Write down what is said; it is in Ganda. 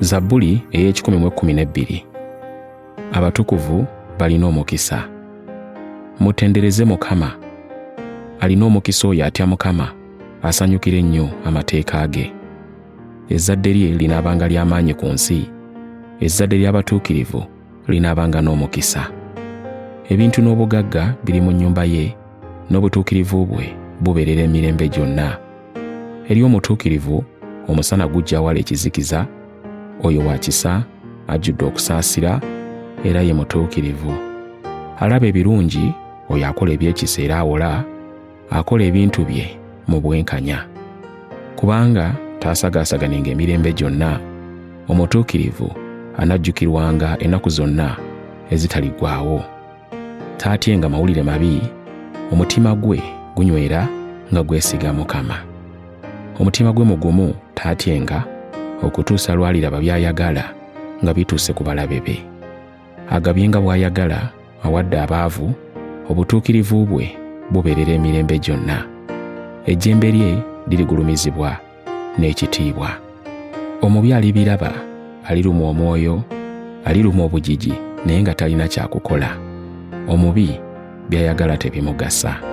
zabbuli ey'ekikumi mu ekkumi n'ebbiri abatukuvu balina omukisa mutendereze mukama alina omukisa oyo atya mukama asanyukira ennyo amateeka ge ezzadde lye linaabanga ly'amaanyi ku nsi ezzadde ly'abatuukirivu linaabanga n'omukisa ebintu n'obugagga biri mu nnyumba ye n'obutuukirivu bwe bubeerera emirembe gyonna. Eri omutuukirivu omusana gujja wala ekizikiza, oyo wa kisa ajjudde okusaasira era ye mutuukirivu. Alaba ebirungi oyo akola ebyekisa era awola, akola ebintu bye mu bwenkanya. Kubanga taasagaasaganenga emirembe gyonna, omutuukirivu anajjukirwanga ennaku zonna ezitaliggwaawo. taatyenga mawulire mabi omutima gwe gunywera nga gwesiga mukama omutima gwe mugumu taatyenga okutuusa lwaliraba by'ayagala nga bituuse ku balabe be agabye nga bw'ayagala awadde abaavu obutuukirivu bwe bubeerera emirembe gyonna ejjembe lye lirigulumizibwa n'ekitiibwa. Omubi alibiraba, alirumwa omwoyo, alirumwa obujiji naye nga talina kyakukola. Omubi by'ayagala tebimugasa.